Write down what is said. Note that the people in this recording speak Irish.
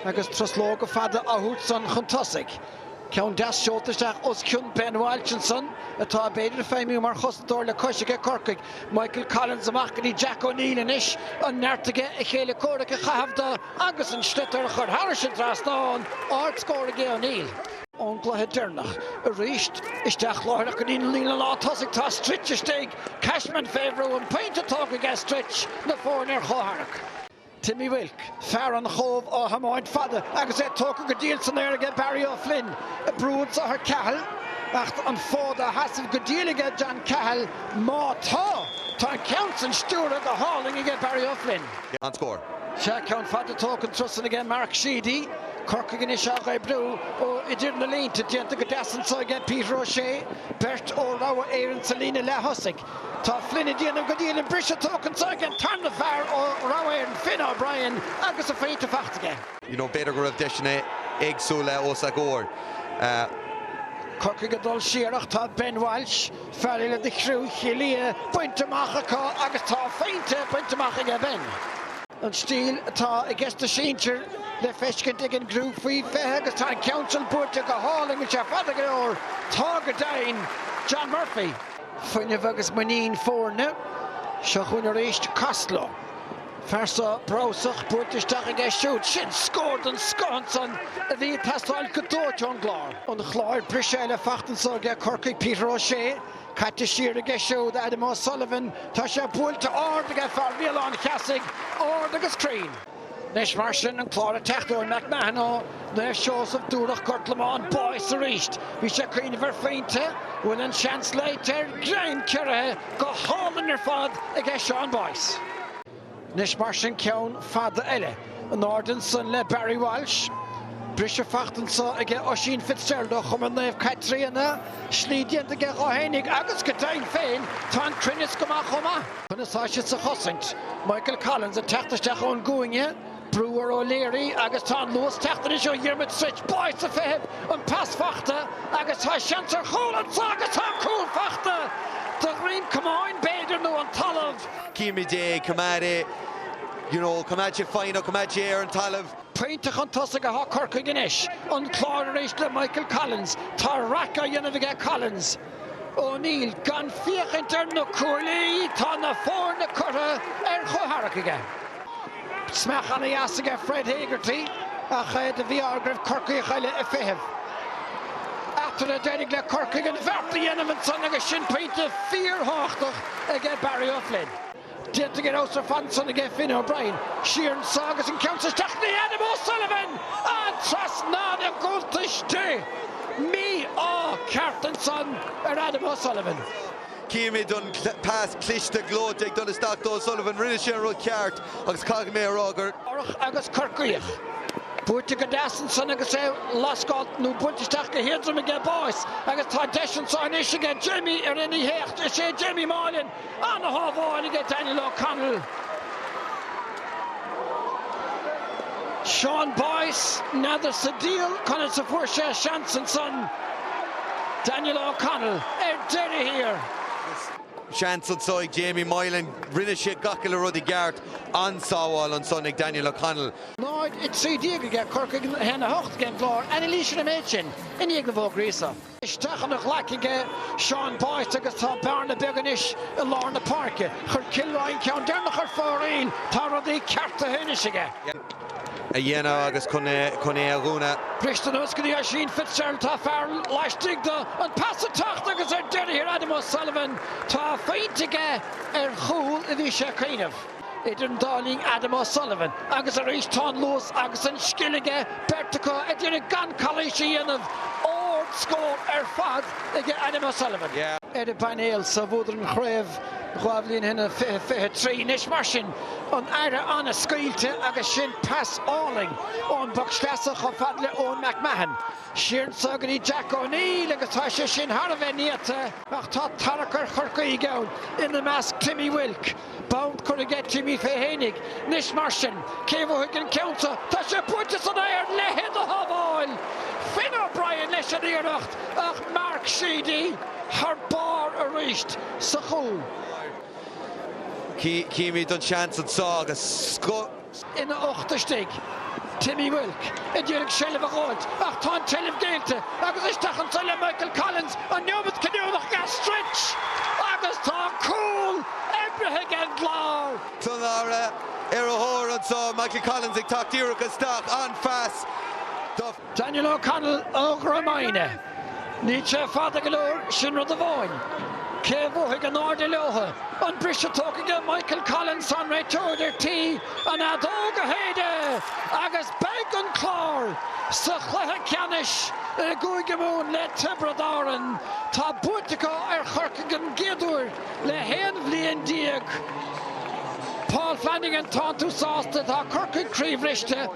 Agus truslóga fada á thabhairt san chun tosaigh, ceann deas seolta isteach os cionn Ben Walsh ansan, atá b'fhéidir ag feidhmiú mar chosantóir le cois aige Corcaigh, Michael Collins amach go dtí Jack O'Neill anois, an neart aige a chéile comhraic a chaitheamh do agus an sliotar a chur thairis an trasnán, ardscór aige O'Neill. Ón gcluiche deirneach arís, isteach láithreach go dtí an líne lántosaigh tá Stritch istigh, Cashman fé bhrú, an pointe tógtha aige Stritch, na foirne ar chomhtharrac. Timmy Wilk, fear an Chóbh á thiomáint fada agus é tógtha go diail san aer aige Barry O'Flynn, ag brú anso thar Cahill ach an fód á sheasamh go diail aige John Cahill, má tá, tá an ceann san stiúrtha go hálainn aige Barry O'Flynn. An-scór. Seo ceann fada tógtha an turas san aige Mark Sheedy, Corcaigh anois á dh'oibriú ó idir na línte, déanta go deas anso aige Peter O'Shea, beirt ó Rogha Éireann sa líne leath thosaigh. Tá Flynn ag déanamh go diail an briseadh tógtha anso aige an tarna fear ó Rogha Éireann, Finn O'Brien, agus a phointe faighte aige. you know b'fhéidir go raibh deiseanna éagsúla os a gcomhair. Corcaigh ag dul siar ach tá Ben Walsh, fear eile de chriú Chill Ia, bainte amach acu agus tá a phointe bainte amach aige Ben. An stíl atá i gceist sna sinsir le feiscint ag an gcriú faoi 20 agus tá an ceann sin buailte go hálainn, an bhfuil sé fada go leor, tá go deimhin, John Murphy. Fuinneamh agus muinín foirne. Seo chugainn arís Costello. Fear so breabhsach buailte isteach aige siúd. Sin scór den scoth ansan a bhí ag teastáil go dóite ón gClár. an Chláir. Briseadh eile faighte anso aige Corcaigh, Peter O'Shea. Caite siar aige siúd Adam O'Sullivan. Tá sé buailte ard aige fear Bhéal Átha an Cheasaigh. Ard agus cruinn. Anois mar sin an Clár ag teacht, Eoin McMahon ó Naomh Seosamh, Dúire, Gort Lomáin, Boyce arís. Bhí sé ag cuimhneamh ar phointe an bhfuil an seans léite air, greim ciorraithe go hálainn ar fad aige Seán Boyce. Anois mar sin ceann fada eile in airde ansan le Barry Walsh. Briseadh faighte anso aige Oisín Fitzgerald ó Chumann Naomh Caitríona, slí déanta aige dhó fhéinig agus go deimhin féin tá an cruinneas go maith chomh maith. Chun a sháith siad sa chosaint. Michael Collins ag teacht isteach ón gcúinne, brú ar O'Leary agus tá an luas ag teacht anois ó Dhiarmuid Stritch, Boyce ag feitheamh, an pas fachta agus tá seans ar chúl anso agus tá an cúl fachta! De dhroim camáin b'fhéidir nó an talamh! Címid é, coimeád é, you know, coimeád sé foighneach, coimeád sé ar an talamh. Pointe chun tosaigh atá Corcaigh anois. An Clár arís le Michael Collins. Tá raic á dhéanamh aige Collins. O'Neill. Gan féachaint ar na cuaillí tá na foirne curtha ar chomhtharrac aige. Smeach ana-dheas aige Fred Hegarty ach é de mhí-ádh air go raibh Corcaíoch eile ag feitheamh. Eatarthu a d'éirigh le Corcaigh an bheart a dhéanamh ansan agus sin pointe fíor-thábhachtach aige Barry O'Flynn. Déanta go raibh ar fad ansan aige Finn O'Brien, siar anso agus an ceann san isteach go dtí Adam O'Sullivan! An trasnán i gcuntais di! Mí-ádh ceart ansan ar Adam O'Sullivan. Chímid an pas cliste gleoite ag dul isteach do O'Sullivan. Rinne sé an rud ceart agus caithfidh mé a rá gur. Ortha agus Corcaíoch. Buaite go deas ansan agus é lascáilte nó buailte isteach go héadrom aige Boyce agus tá deis anso anois aige Jamie a rinne a éacht. Is é Jamie Moylan. Ana shábháil aige Daniel O'Connell, Seán Boyce, n'fheadar sa diabhal conas a fuair sé seans ansan, Daniel O'Connell ar deireadh thiar. Seans anso ag Jamie Moylan, rinne sé gach uile rud i gceart, an-sábháil ansan ag Daniel O'Connell. 0-13 aige, Corcaigh 1-8 aige an Clár, anailís ar an méid sin i ndiaidh na bhfógraí sa. isteach ina ghlaic aige Seán Boyce agus tá bearna beag anois i lár na páirce. Chuir Kilroy an ceann deireanach ar fóraoil. Tá rudaí ceartaithe anois aige. a dhéanamh agus chun é a dhúnadh. Briste anuas go dtí Oisín Fitzgerald. Tá fear laistigh do an pas ag teacht agus ar deireadh thiar Adam O'Sullivan. Tá a phointe aige ar chúl a bhí sé ag cuimhneamh. Idir an dá linn Adam O'Sullivan agus arís tá an luas agus an scil aige, beirt acu a d'iarraidh gan calaois a dhéanamh. Ard scór ar fad aige Adam O'Sullivan. ar an bpainéal sa bhuadar an chraobh dhá bhliain ó shin i 20, 23. Anois mar sin an aire an-scaoilte agus sin pas álainn ón bpoc sleasa chomh fada le Eoin McMahon. Siar anso go dtí Jack O'Neill agus tá sé sin thar a bheith néata. Ach tá tarrac ar Chorcaígh ann, ina measc Timmy Wilk. Bonn curtha aige Timmy fé fhéinig. Anois mar sin, cé a bhuafaidh an ceann seo? Tá sé buailte san aer! A leithéid de shábháil! Finn O'Brien leis an iarracht ach Mark Sheedy thar barr arís sa chúl. Chímid an seans anso agus scoth. Ina ucht istigh Timmy Wilk a d'iarraidh seilbh a ghabháilt ach tá an tseilbh géillte agus isteach anso le Michael Collins, an neomat cinniúnach go Stritch agus tá cúl oibrithe ag an gClár. San dara ar a thóir anso Michael Collins ag teacht díreach isteach, an-phas do. Daniel O'Connell ó Dhrom Aidhne. Níl sé fada go leor, sin rud amháin. Cé a bhuafaidh in airde leotha? An briseadh tógtha aige Michael Collins, tá an réiteoir ar tí an fheadóg a shéideadh agus beidh an Clár sa chluiche ceannais i gCúige Mumhan le Tiobraid Árann. Tá buaite acu ar Chorcaigh don gcéad uair le haon bhliain déag. Paul Flanagan, tánn tú sásta? Tá Corcaigh croíbhriste.